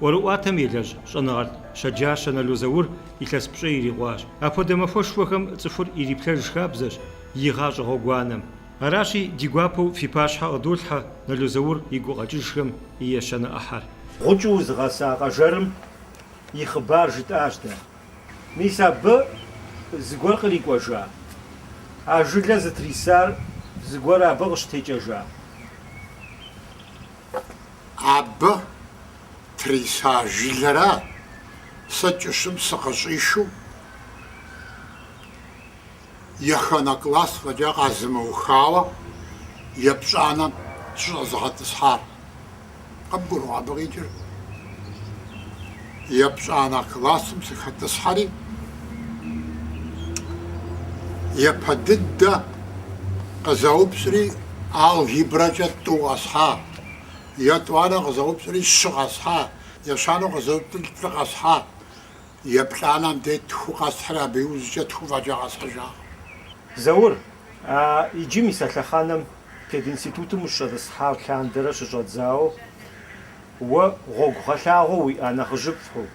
ӏуэрыӏуатэм елэжь щӏэныгъэлӏ щэджащэ Нало Заур илъэс пщӏей ирикъуащ. Апхуэдэ махуэшхуэхэм цӏыхур ириплъэж хабзэщ и гъащӏэ гъуэгуанэм. Аращи, ди гуапэу фи пащхьэ къыдолъхьэ Нало Заур и гукъэкӏыжхэм и ещанэ ӏыхьэр. Гъукӏыу узыгъэса къэжэрым и хъыбар жытӏащ дэ. Мис абы зыгуэр кърикӏуэжа? А жылэ зытрисар зыгуэр абы къыщытекӏэжа? Абы триса жылэра сэ кӏыщым сыкъыщӏишу еханэ класс фӏэкӏа къазымыухауэ епщӏанэм сыщӏэзыгъэтӏысхьар. Къыбгурыӏуа абы къикӏыр? Епщӏанэ классым сыхэтӏысхьэри, япэ дыдэ къызэупщӏри, алгебрэкӏэ тӏу къэсхьа. Етӏуанэ къызэупщӏри, щы къэсхьа, ещанэу къызэупщӏри, плӏы къэсхьа, еплӏанэм деж тху къэсхьри, абы иужькӏэ тху фӏэкӏа къэсхьыжакъым. Заур, а иджы мис а лъэхъэнэм пединститутым ущӏэтӏысхьа лъандэрэ щыщӏэдзауэ, уэ гъуэгугъэлъагъуэ уиӏа нэхъыжьыфӏхэу,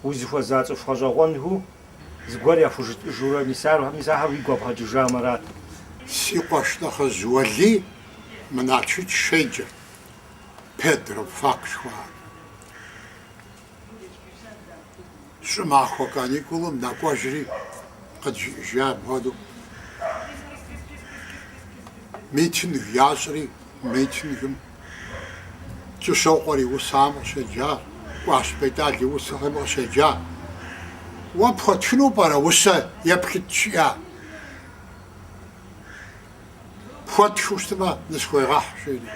узыхуэза цӏыху гъэщӏэгъуэнхэу зыгуэр яхужытӏыжурэ, мис ахэр уигу къэбгъэкӏыжамэрат. Си къуэш нэхъыжь Уэлий. Мы Налшык щеджэрт педрабфак жыхуаӏэр. Щӏымахуэ каникулым нэкӏуэжри, къыджиӏэжа апхуэдэу, митинг ящӏри, митингым Кӏыщокъуэр и усэхэм къыщеджа, Кӏуащ Бетӏал и усэхэм къыщеджа. Уэ пхуэтхыну пӏэрэ усэ еплъыт жиӏа? Пхуэтхыу щытмэ, нысхуегъэхь, жери.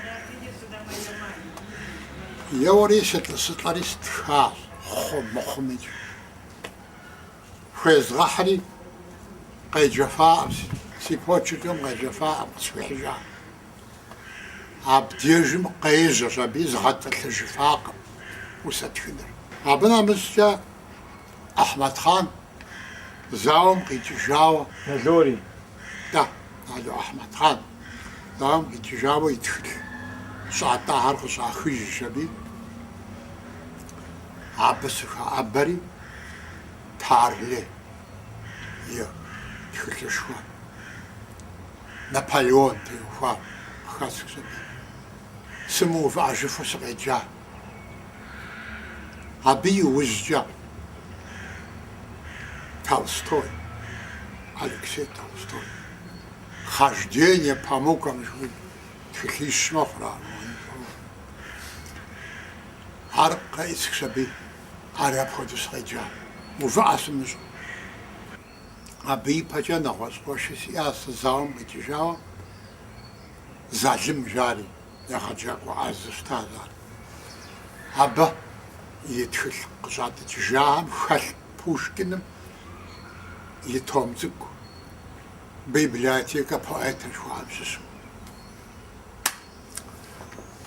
Еуэри сылӏэри стхащ, хъу мыхъумикӏ. Хуезгъэхьри, къеджэфаӏым, си почеркым къеджэфаӏым, къысхуихьыжа. Абдежым къежьэщ аби, згъэтӏылъыжыфакъым усэ тхыныр. Абы нэмыщӏкӏэ Ахьмэдхъан зауэм къикӏыжауэ. Налори, Да, Нало Ахьмэдхъан, зауэм къикӏыжауэ и тхылъ щӏатӏахэр къыщӏахыжщ аби, абы сыхэӏэбэри Тарле и тхылъышхуэ Наполеон теухуар къыхэсхщ аби. Сымыувыӏэжыфу сыкъеджа. Абы и ужькӏэ Толстой, Алексей Толстой, Хождение по мукам жыхуиӏэ тхылъищ мэхъур ар. Ар къеӏысхщ абы, ар апхуэдэу сыкъеджа, увыӏэ сымыщӏэу. Абы и пэкӏэ нэгъуэщӏ къуэши сиӏащ сэ, зауэм къикӏыжауэ Залым жари. Егъэджакӏуэ ӏэзэу щытащ ар. Абы и тхылъ къыщӏатӏыкӏыжахэм хэлъ Пушкиным и том цӏыкӏу Библиотека поэта жыхуаӏэм щыщу.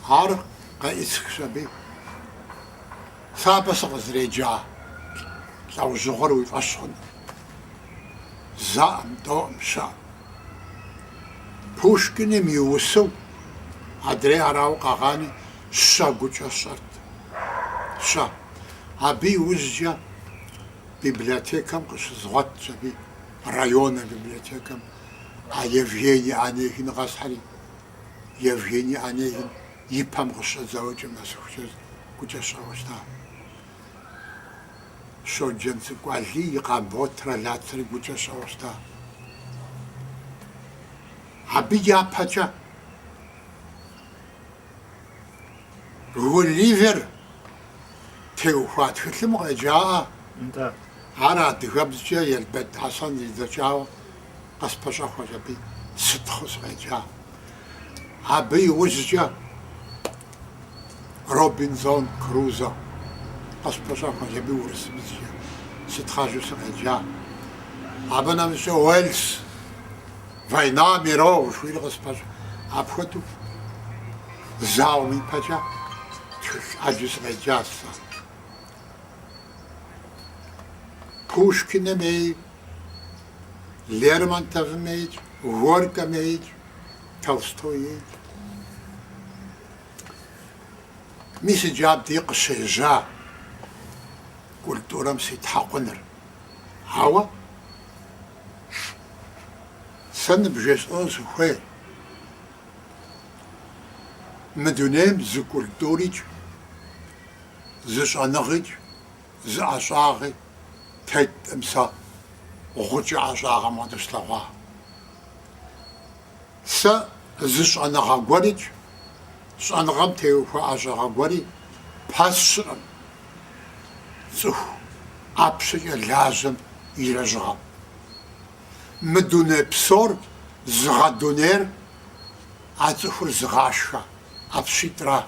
Ар къеӏысхщ абы. Сэ абы сыкъызреджа лӏэужьыгъуэр уи фӏэщ хъунут. Зэӏым, тӏоӏым, щэӏым. Пушкиным и усэу адрей арауэ къэгъани, щэ гукӏэ сщӏэрт. Щэ. Абы иужькӏэ библиотекэм къыщызгъуэтщ, абы районнэ библиотекэм, а Евгений Онегин къэсхьэри. Евгений Онегин и пэм къыщыщӏэдзауэ кӏэм нэсыхукӏэ гукӏэ сщӏэуэ щытащ. Щоджэнцӏыкӏу Алий и Къамботрэ Лацэри гукӏэ сщӏэуэ щыта. Абы япэкӏэ Гулливер теухуа тхылъым укъеджаӏэ? Нтӏэ. Ар адыгэбзкӏэ Елбэрд Хьэсэн зидзэкӏауэ къыспэщӏэхуэщ абы сытхъэу сыкъеджа. Абы иужькӏэ. Робинзон Крузо, къыспэщӏэхуэщ абы урысыбзкӏэ сытхъэжу сыкъеджа. Абы нэмыщӏкӏэ Уэльс, Война миров жыхуиӏэри къыспэщӏ. Апхуэдэу зауэм ипэкӏэ тхылъ ӏэджи сыкъеджащ сэ. Пушкиным ей, Лермонтовым ейкӏ, Горькэм ейкӏ. Толстой ей, мис иджы абди къыщежьа культурэм ситхьэкъуныр. Ауэ сэ ныбжесӏэну сыхуейр, мы дунейм зы культурикӏ, зы щӏэныгъикӏ, зы ӏэщӏагъи тетӏым сэ гъукӏэ ӏэщӏагъэм къыдыслъэгъуа. Сэ зы щӏэныгъэ гуэрикӏ, щӏэныгъэм теухуа ӏэщӏагъэ гуэри пэсщӏыркъым цӏыху ӏэпщэкӏэ лажьэм и лэжьыгъэм. Мы дуней псор зыгъэдунейр а цӏыхур зыгъашхэ ӏэпщитӏра.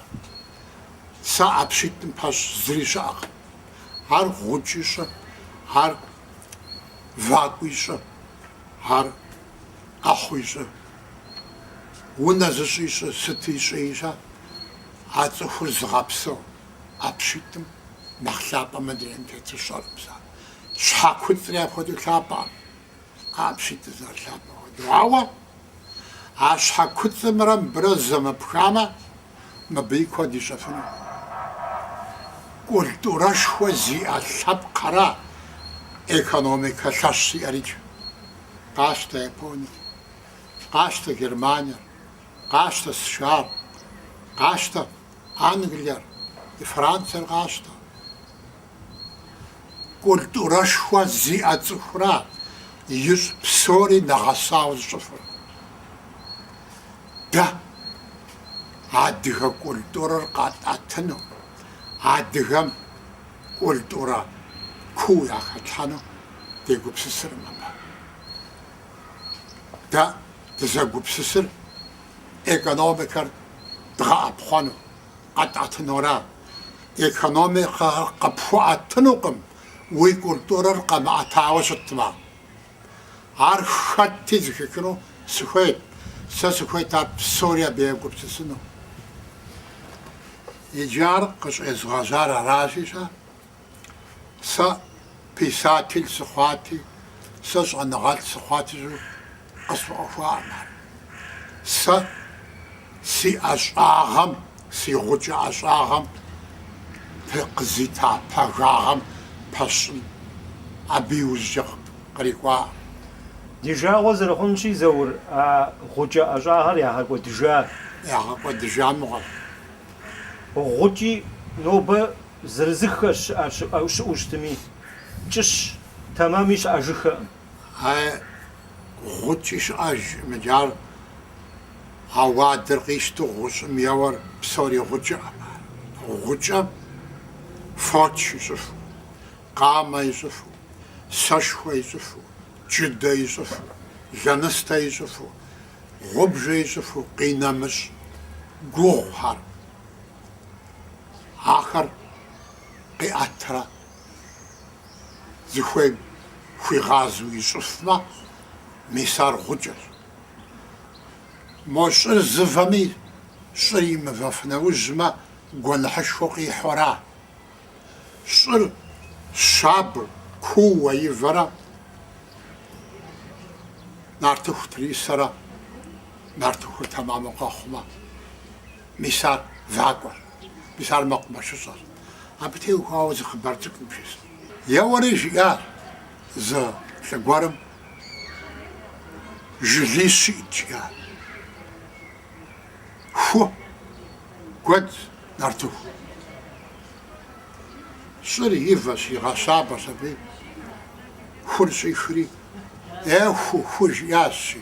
Сэ ӏэпщитӏым пэщӏ зыри щыӏэкъым. Ар гъукӏи щӏы, ар вакӏуи щӏы, Ар ӏэхъуи щӏы. Унэ зыщӏи щӏы, сыти щӏи щӏы, а цӏыхур зыгъэпсэу ӏэпщитӏым нэхъ лъапӏэ мы дунейм тету сщӏэркъым сэ. Щхьэ куцӏри апхуэдэу лъапӏэкъым, а ӏэпщитӏыр зэрылъапӏэ хуэдэу. Ауэ а щхьэ куцӏымрэ мыбырэ зэмыпхамэ, Мыбыи куэд ищӏэфынут. Культурэшхуэ зиӏэ лъэпкъхэра экономикэ лъэщ зиӏэрикӏ. Къащтэ Япониер, къащтэ Германиер, къащтэ США-р, къащтэ Англиер, Франциер къащтэ. Культурэшхуэ зиӏэ цӏыхура ищӏ псори нэгъэсауэ зыщӏыфыр. Дэ, адыгэ культурэр къатӏэтыну, адыгэм культурэ куу яхэтлъхьэну дегупсысыркъым абы. Дэ дызэгупсысыр экономикэр дгъэӏэпхъуэну. къэтӏэтынура. Экономикэ къыпхуэӏэтынукъым уи культурэр къэмыӏэтауэ щытмэ. Ар хэтти зыхихыну сыхуейт, сэ сыхуейт ар псори абы егупсысыну. Иджы ар къыщӏезгъэжьар аращи-щэ? Сэ писатель сыхъуати, сэ щӏэныгъэлӏ сыхъуати жысӏэу къысфӏэӏуэхуакъым ар. Сэ си ӏэщӏагъэм, си гъукӏэ ӏэщӏагъэм те къызита пагагъэм пэщӏын, абы иужькӏэ кърикӏуакъым. Ди жагъуэ зэрыхъунщи, Заур, а гъукӏэ ӏэщӏагъэр ягъэкӏуэдыжа? Ягъэкӏуэдыжа мыгъуэщ. Гъукӏи нобэ Зырызыххэр щыӏэу щытми, кӏыщ тэмэми щыӏэжыххэкъым. Ай, гъукӏи щыӏэж мыджы ар, а уадэр къищту гъущӏым еуэр псори гъукӏэкъым ар. Гъукӏэ фоч ищӏыфу, къамэ ищӏыфу, сэшхуэ ищӏыфу, джыдэ ищӏыфу, лэныстэ ищӏыфу, гъубжэ ищӏыфу къинэмыщӏ гугъухэр. Ахэр къиӏэтрэ зыхуейм хуигъазэу ищӏыфмэ, мис ар гъукӏэщ. Мо щӏыр зывэми, щӏыр имывэф нэужьмэ, гуэныхьышхуэ къихьу ара. Щӏыр щабэу, кууэ ивэрэ нартыху трисэрэ нартыхур тэмэму къэхъумэ, Мис ар вакӏуэр, мис ар мэкъумэшыщӏэр. Абы теухуауэ зы хъыбар цӏыкӏу бжесӏэн. Еуэри жиӏащ зы лӏы гуэрым жылищ иӏэт жиӏащ. Ху, гуэдз, нартыху. Щӏыр ивэщ, игъэщабэщ аби, хур щӏихри, Е ху, ху, жиӏащ, щи.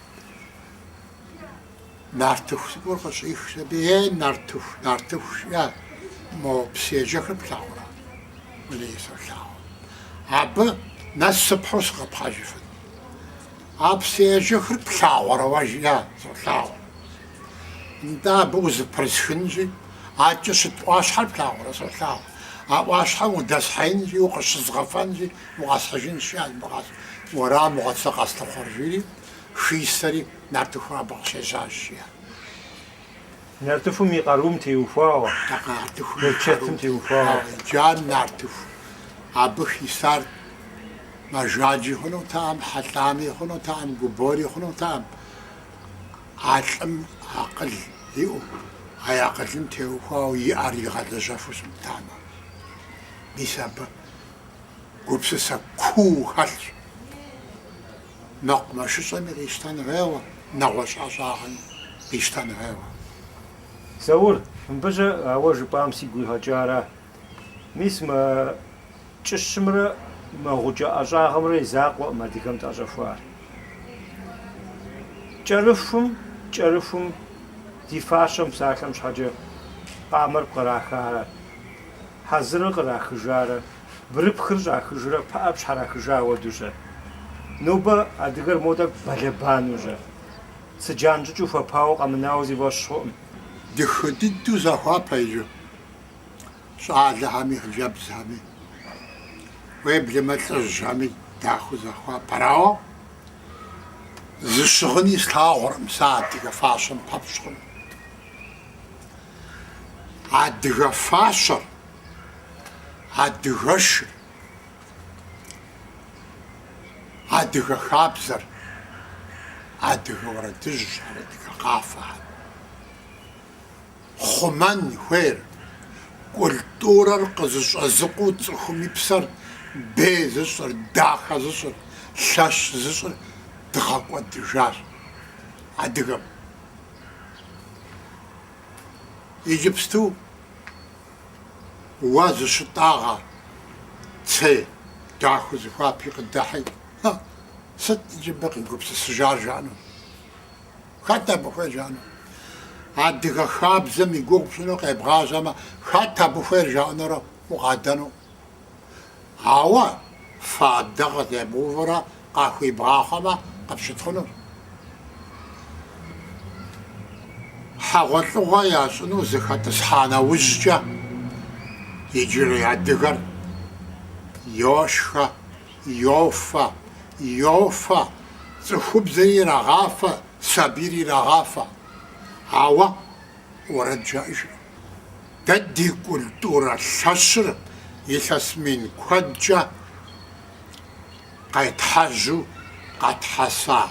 нартыху цӏыкӏур къыщӏихщ аби, е нартыху, нартыху жиӏэ, мо псыежэхыр плъагъурэ? Мыри солъагъу. Абы нэс сыпхьу сыкъэпхьыжыфын. А псыежэхыр плъагъурэ уэ, жиӏэ, солъагъу. Нтӏэ, абы узэпрысхынщи, адэкӏэ щыт ӏуащхьэр плъагъурэ, солъагъу. А ӏуащхьэм удэсхьеинщи, укъыщызгъэфэнщи, укъэсхьыжынщи, уэра мыгъуэт сэ къэслъыхъуэр, жиӏэри, хисэри, нартыху абы къыщежьащ, жиӏэ. Нартыхум и къарум теухуауэ. Нартыхум и къарум теухуауэ. Иджы а нартыху абы хисар мэжаджи хъунутэкъым, хьэлӏами хъунутэкъым, губори хъунутэкъым. А лӏым акъыл иӏэу, а акъылым теухуауэ и ӏэр игъэлэжьэфу щымытамэ, мис абы гупсысэ куу хэлъщ. Мэкъумэшыщӏэми къищтэн хуейуэ, нэгъуэщӏ ӏэщӏагъэми къищтэн хуейуэ. Заур, мыбдеж ауэ жыпӏам сигу къигъэкӏара. Мис мы кӏыщымрэ мы гъукӏэ ӏэщӏагъэмрэ и закъуэкъым адыгэм тӏэщӏэхуар. Кӏэрыхум, кӏэрыхум ди фащэм псалъэм щхьэкӏэ къамэр кърахарэ, хьэзырыр кърахыжарэ, бгырыпхыр щӏахыжрэ пыӏэр пщхьэрахыжа хуэдэу-щэ? Нобэ адыгэр мо тӏэкӏу бэлэбанэу-щэ? Цыджан щӏыкӏэу хуэпауэ къэмынауэ си фӏэщ хъуӏым. Дахэ дыдэу захуапэ иджы. щӏалэхэми, хъыджэбзхэми, уеблэмэ лӏыжьхэми дахэу захуапэр, ауэ зы щыгъыни слъагъуркъым сэ адыгэ фащэм пэпщӏ хъун. Адыгэ фащэр, адыгэшыр, адыгэ хабзэр, адыгэ уэрэдыжьхэр, адыгэ къафэхэр. хъумэн хуейр, культурэр къызыщӏэзыкъуу цӏыхум и псэр бей зыщӏыр, дахэ зыщӏыр, лъэщ зыщӏыр дгъэкӏуэдыжащ адыгэм. Иджыпсту уэ зыщытӏагъэ цей дахэу зыхуапи къыдыхьи, сыт иджы мыбы къигупсысыжар жаӏэну? Хэт абы хуейр жаӏэну? Адыгэ хабзэм и гугъу пщӏыну къебгъажьэмэ, хэт абы хуейр жаӏэнурэ укъадэну? Ауэ фадэ къытебгъэувурэ къахуибгъахъуэмэ, къыпщытхъунущ. Хьэгъуэлӏыгъуэ ящӏыну зыхэтӏысхьа нэужькӏэ, иджырей адыгэр йошхэ. Йофэ, йофэ, цӏыхубзри ирагъафэ, сабийри ирагъафэ. Ауэ уэрэд жаӏэжырым. Дэ ди культурэ лъэщыр илъэс мин куэдкӏэ къетхьэжьу къэтхьэса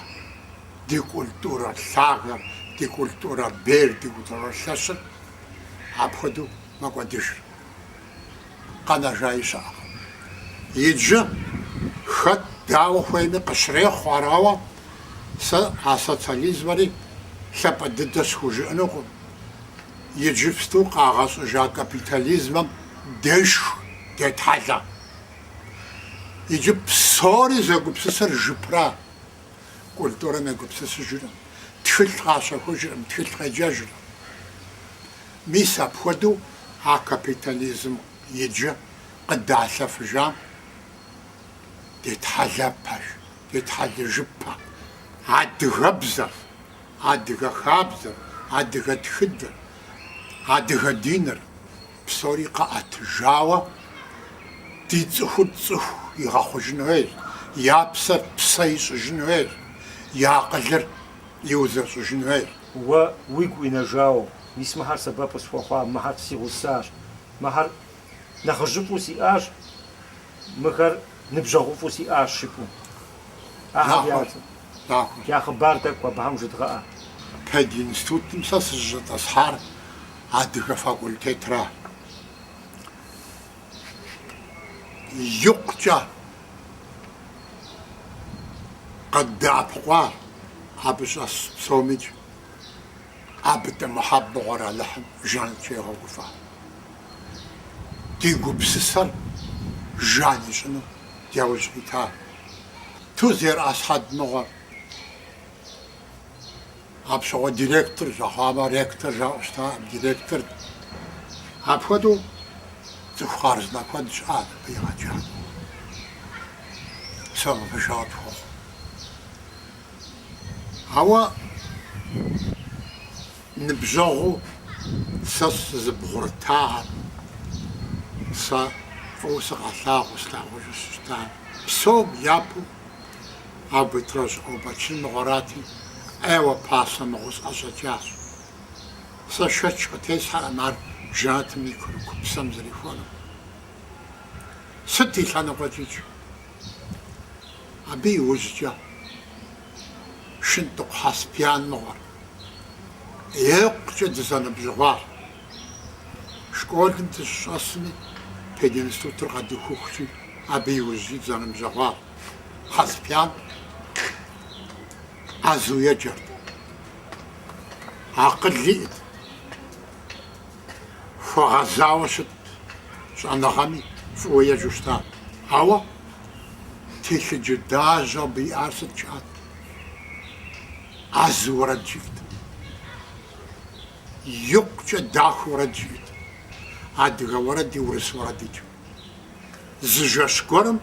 ди культурэ лъагэр, ди культурэ бейр, ди культурэ лъэщыр апхуэдэу мэкӏуэдыжыр. къэнэжаи щыӏэкъым. Иджы хэт дауэ хуейми къыщрехъу ар ауэ сэ а социализмэри лъапӏэ дыдэ схужыӏэнукъым, иджыпсту къагъэщӏыжа капитализмэм дешх детхьэлэ. Иджы псори зэгупсысыр жыпра. культурэм егупсысыжырым, тхылъ къащэхужырым, тхылъ къеджэжырым. Мис апхуэдэу а капитализм иджы къыдалъэфыжам детхьэлэпэж, детхьэлыжыпэ адыгэбзэр, адыгэ хабзэр, адыгэ тхыдэр, адыгэ диныр. Псори къэӏэтыжауэ ди цӏыхур цӏыху игъэхъужын хуейщ, я псэр псэ ищӏыжын хуейщ, и акъылыр иузэщӏыжын хуейщ. Уэ уигу къинэжауэ, мис мыхьэр сэбэп къысхуэхъуа, мыхьэр си гъусащ, мыхьэр нэхъыжьыфӏу сиӏащ, мыхэр ныбжьэгъуфӏу сиӏащ жыпӏэу. Ахэр я Нахуэщ, цӏэ. нахуэщ. Я хъыбар тӏэкӏу абыхэм жыдгъэӏэ. Пединститутым сэ сызыщӏэтӏысхьар. Адыгэ факультетра икъукӏэ къыддэӏэпыкъуа абы щӏэс псомикӏ Абытӏэ Мухьэб мыгъуэр Алыхьым жэнэткӏэ игъэгуфӏэ. Ди гупсысэр жан ищӏыну яужь ита Тузэр Асхьэд мыгъуэр. Апщыгъуэ директор жаӏэ мыхъумэ, ректор жаӏэу щытаӏым, директорт. Апхуэдэу цӏыху хъарзынэ куэд щыӏэ абы къигъэкӏа. Псоми ныбжьэгъу тхуэхъу. Ауэ ныбжьэгъуу сэ сызыбгъурытагъэр, сэ фӏыуэ сыкъалъагъуу слъагъужу сыщытар, псом япэу, Абы тощӏ Къобэчын мыгъуэрати, ӏейуэ пасэ мыгъуэу сӏэщӏэкӏащ. Сэ шэч къытесхьэркъым ар жэнэтым и курыкупсэм зэрихуэнум. Сыт и лъэныкъуэкӏикӏ? Абы иужькӏэ Шынтӏыкъу Хьэсбян мыгъуэр икъукӏэ дызэныбжьэгъуащ. Школым дыщыщӏэсми, пединститутыр къэдухыхукӏи, абы иужькӏи дызэныбжьэгъуащ. Хьэсбян ӏэзэу еджэрт. Акъыл иӏэт, хуэгъэзауэ щытт, щӏэныгъэми фӏыуэ еджэу щытат. Ауэ телъыджэлажьэу абы иӏар сыт щыӏэт? Ӏэзэу уэрэд жиӏэт. Икъукӏэ дахэу уэрэд жиӏэт. Адыгэ уэрэди, урыс уэрэдикӏ. Зы жэщ гуэрым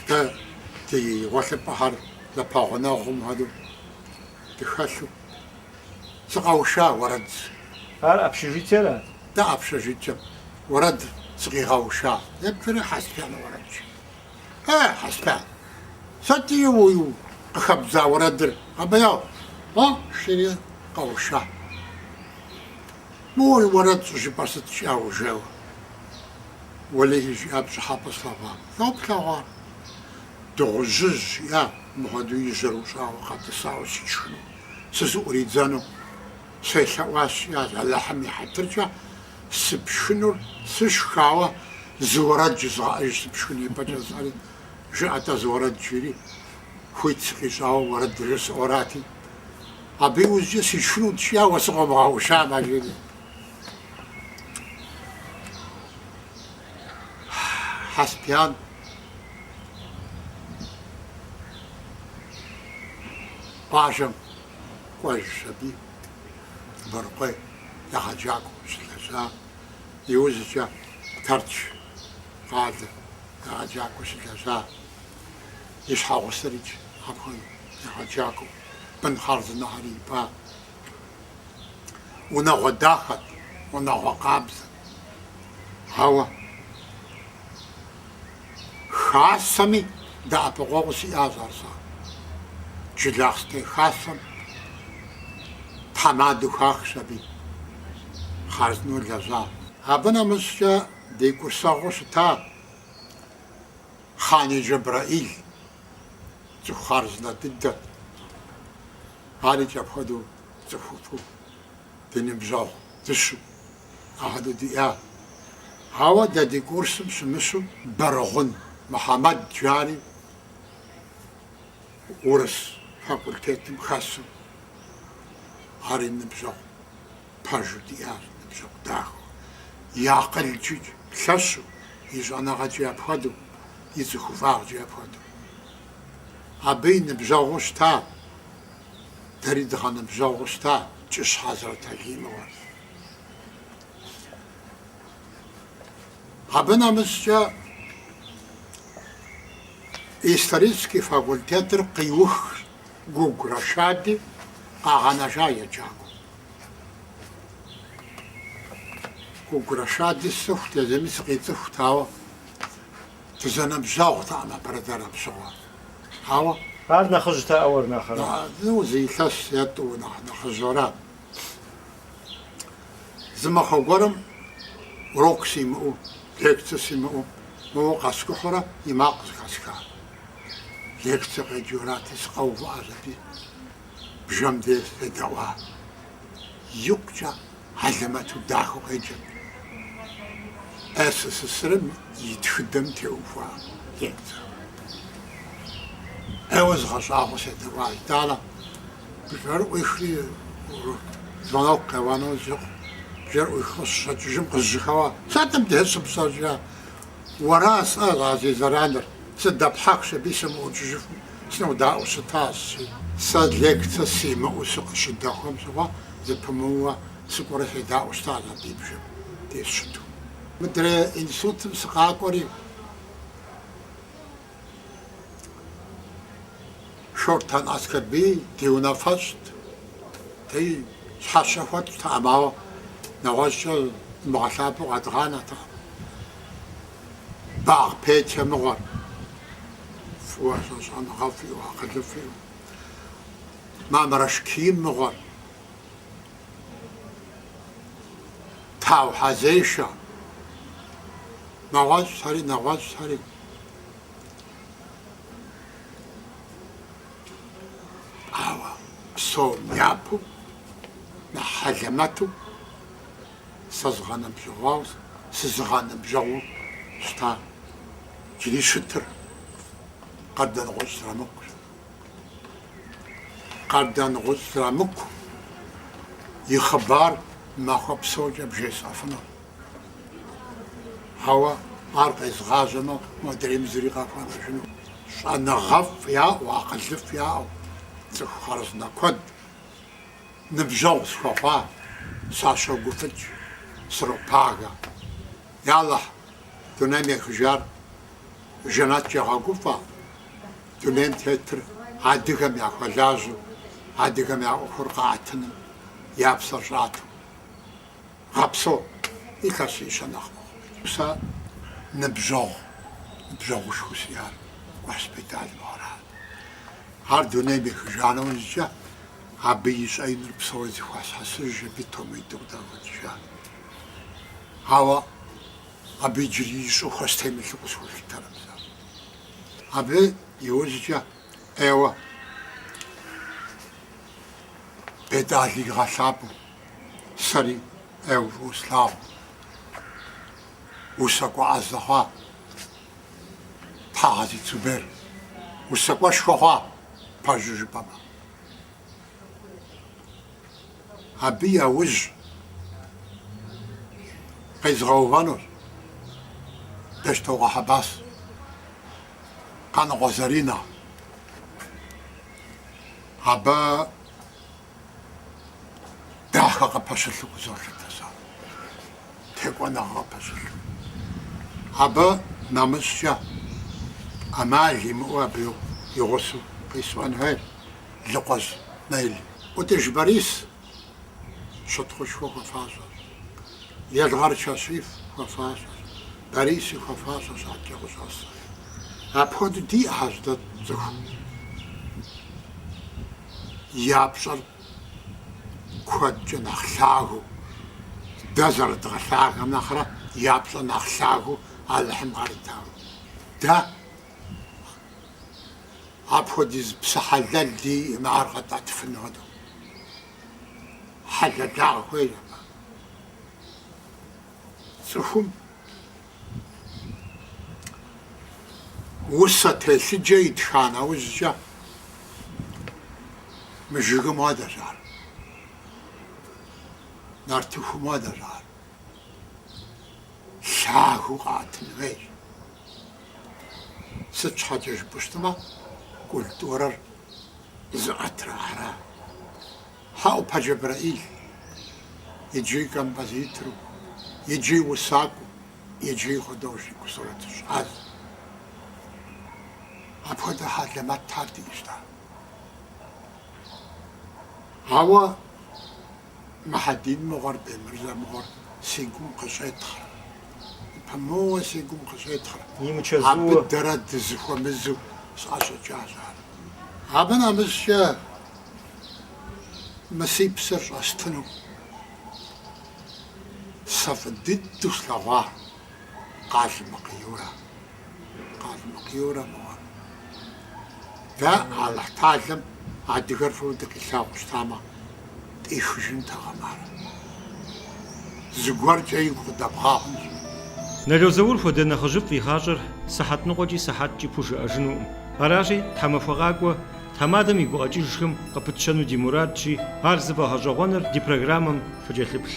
дэ ди гъуэлъыпӏэхэр зэпэгъунэгъум хуэдэу дыхэлъу сыкъэуша уэрэд. Ар общежитиера? Да, общежитием уэрэд сыкъигъэуша. Епхыри Хьэсбян уэрэдщ. Э, Хьэсбян, сыт уэ къыхэбдза уэрэдыр къэбэяу? О, жери къэуша. Моуэ уэрэд щӏыжыпӏэр сыт щӏауэ жэуэ? Уэлэхьи, жиӏа пщӏыхьэпӏэ слъэгъуам. Лӏо плъэгъуар? Дыгъужьыжь, жиӏа, мыпхуэдэу и жьэр ущӏауэ къэтӏысауэ сишхыну, сызыӏуридзэну? Селъэӏуащ, жиӏа, Алыхьым и хьэтыркӏэ сыпшхынур сышхауэ, зы уэрэд жызгъэӏэж сыпшхын ипэкӏэ жысӏэри, жыӏэ-тӏэ зы уэрэд жиӏэри, хуит сыкъищӏауэ уэрэд жысӏэурати. Абы иужькӏэ сишхынут, жиӏа, уэ сыкъомыгъэушам, жиӏэри. Хьэсбян къуажэм кӏуэжщ аби Борыкъуей егъэджакӏуэу щылэжьа иужькӏэ Тэрч къалэ егъэджакӏуэу щылэжьа и щхьэгъусэрикӏ абыхэм егъэджакӏуэу. Бын хъарзынэхэр ипӏа, унагъуэ дахэт, унагъуэ къабзэт. Ауэ Хасэми дэӏэпыкъуэгъу сиӏащ ар сэ. Джылахъстей Хасэм тхьэмадэу хахщ аби хъарзынэу лэжьа. Абы нэмыщӏкӏэ ди курсэгъуу щыта Хъани Джэбрэӏил Цӏыху хъарзынэ дыдэт. Арикӏ апхуэдэу цӏыхуфӏу, ди ныбжьэгъу дыщэу апхуэдэу диӏа. Ауэ дэ ди курсым щымыщу Бэргъун Мухьэмэд жари урыс факультетым хэсу ари ныбжьэгъу пэжу диӏащ, ныбжьэгъу дахэу, и акъылкӏи лъэщу, и щӏэныгъэкӏи апхуэдэу, и цӏыхуфӏагъкӏи апхуэдэу. Абы и ныбжьэгъуу щыта, дэри дгъэныбжьэгъуу щыта Кӏыщ Хьэзрэталий мыгъуэр. Абы нэмыщӏкӏэ исторический факультетыр къиухщ. Гугу Рашади къагъэнэжа егъэджакӏуэу. Гугу Рашади сцӏыхут, езыми сыкъицӏыхут, ауэ дызэныбжьэгъутэкъым апэрытэр апщыгъуэ. Ауэ. Ар нэхъыжьтэкъэ уэр нэхърэ? Нэхъ, зы илъэс е тӏу нэхъ нэхъыжьэра. Зы махуэ гуэрым урок симыӏэу, лекцэ симыӏэу, моуэ къэскӏухьурэ и макъ зыхэсхат. лекцэ къеджэурати, сыкъэувыӏэщ аби, бжэм де седэӏуа. Икъукӏэ хьэлэмэту дахэу къеджэрт СССР-м и тхыдэм теухуа лекцэр. ӏейуэ згъэщӏагъуэу седэӏуащ. Итӏанэ бжэр ӏуихри, звонок къеуэну щыхъум, бжэр ӏуихыу щыщӏэкӏыжым, къызжьэхэуэ, сыт мыбде щыпщӏэр жи Уэра, сӏэ, а зи зэраныр? Сыдэпхьэхщ аби сымыӏукӏыжыфу сынэудаӏуэу щытащ, си. Сэ лекцэ симыӏэу сыкъыщыдэхуэм щыгъуэ зэпымыууэ сыкӏуэрэ седаӏуэу щытащ а ди бжэм де сыщыту. Мыдрей институтым сыкъакӏуэри. Шортан Аскэрбий ди унафэщӏт, ди щхьэщэ хуэтщӏтэкъым, ауэ нэгъуэщӏкӏэ дымыгъэлъапӏэу къэдгъанэртэкъым. Багъ Петя мыгъуэр фӏыуэ щӏэныгъэфӏ иӏэу, акъылыфӏ иӏэу, Мамрэш Ким мыгъуэр, Тау Хьэзешэ, нэгъуэщӏхэри, нэгъуэщӏхэри. Ауэ псом япэу нэхъ хьэлэмэту сызыгъэныбжьэгъуауэ, сызыгъэныбжьэгъуу щыта джыри щытыр Къардэнгъущӏ Зрамыкъущ. Къардэнгъущӏ Зрамыкъу и хъыбар махуэ псокӏэ бжесӏэфыну. Ауэ ар къезгъажьэмэ, модрейм зыри къахуэнэжыну. Щӏэныгъэфӏ яӏэу, акъылыфӏ яӏэу цӏыху хъарзынэ куэд ныбжьэгъу схуэхъуа, сащогуфӏыкӏ, сропагэ. Ялэхь, дунейм ехыжар жэнэткӏэ гъэгуфӏэ, дунейм тетыр адыгэм яхуэлажьэу, адыгэм я ӏуэхур къаӏэтыным я псэр щӏату. Гъэпсо, илъэсищэ нэхъ мыхъу. Сэ ныбжьэгъу, ныбжьэгъушхуэу сиӏар Кӏуащ Бетӏал мыгъуэрат. Ар дунейм ехыжа нэужькӏэ, абы и щӏэиныр псори зэхуэсхьэсыжщ аби томитӏу къыдагъэкӏыжа. Ауэ абы иджыри и щӏыхуэ стемылъу къысхуэлъытэркъым сэ. Абы и ужькӏэ ӏейуэ Бетӏал игъэлъапӏэу. Сэри ӏейуэ фӏыуэ слъагъуу, усакӏуэ ӏэзэ хъуа, Тхьэгъэзит Зубер усакӏуэшхуэ хъуа, пэжу жыпӏэмэ. Абы яужь къезгъэувэнущ Бещтокъуэ Хьэбас, Къаныкъуэ Заринэ. Абы. дахэ къыпэщылъу къызолъытэ сэ, текӏуэныгъэ къыпэщылъу. Абы нэмыщӏкӏэ ӏэмал имыӏэу абы и гъусэу къисӏуэн хуейр Лыкъуэжь Нелли. Ӏутӏыж Борис щытхъушхуэ хуэфащэщ, Елгъэр Кашиф хуэфащэщ, Бориси хуэфащэщ адэкӏэ къыщӏэсым. Апхуэдэу диӏэхэщ дэ цӏыху. я пщӏэр куэдкӏэ нэхъ лъагэу, дэ зэрыдгъэлъагэм нэхърэ я пщӏэр нэхъ лъагэу Алыхьым къаритауэ. Дэ апхуэдиз псэ хьэлэл диӏэкъым ар къэтӏэтыфын хуэдэу хьэлэлагъ хуейщ абы. Цӏыхум. усэ телъыджэ итха нэужькӏэ мы жыгым хуэдэщ ар, нартыхум хуэдэщ ар, лъагэу къэӏэтын хуейщ. Сыт щхьэкӏэ жыпӏэу щытмэ, культурэр зыӏэтыр ахэра, Хьэӏупэ Джэбрэӏил, иджыри композитору, иджыри усакӏуэу, иджыри художникэу сурэтыщӏащ. Апхуэдэ хьэлэмэтхэр диӏэщ-тӏэ. Ауэ Мухьэдин мыгъуэр, Бемырзэ мыгъуэр си гум къыщӏетхъыр, зэпымыууэ си гум къыщӏетхъыр. Абы дэрэ дызэхуэмызэу сӏэщӏэкӏащ ар. Абы нэмыщӏкӏэ Мы си псэр щӏэстыну сэ фӏы дыдэу слъэгъуа Къалмыкъ Юрэ, Къалмыкъ Юрэ мыгъуэ. Дэ Алыхьталэм адыгэр фӏыуэ дыкъилъагъу щытамэ, тӏихыжынтэкъым ар. зыгуэркӏэ игу къыдэбгъа хъунщ. Нало Заур хуэдэ нэхъыжьыфӏ и гъащӏэр сыхьэт ныкъуэкӏи сыхьэткӏи пхужыӏэжынукъым. Аращи, тхьэмахуэ къакӏуэ, тхьэмадэм и гукъэкӏыжхэм къыпытщэну ди мурадщи, ар зыфӏэгъэщӏэгъуэныр ди программэм фыкӏэлъыплъ.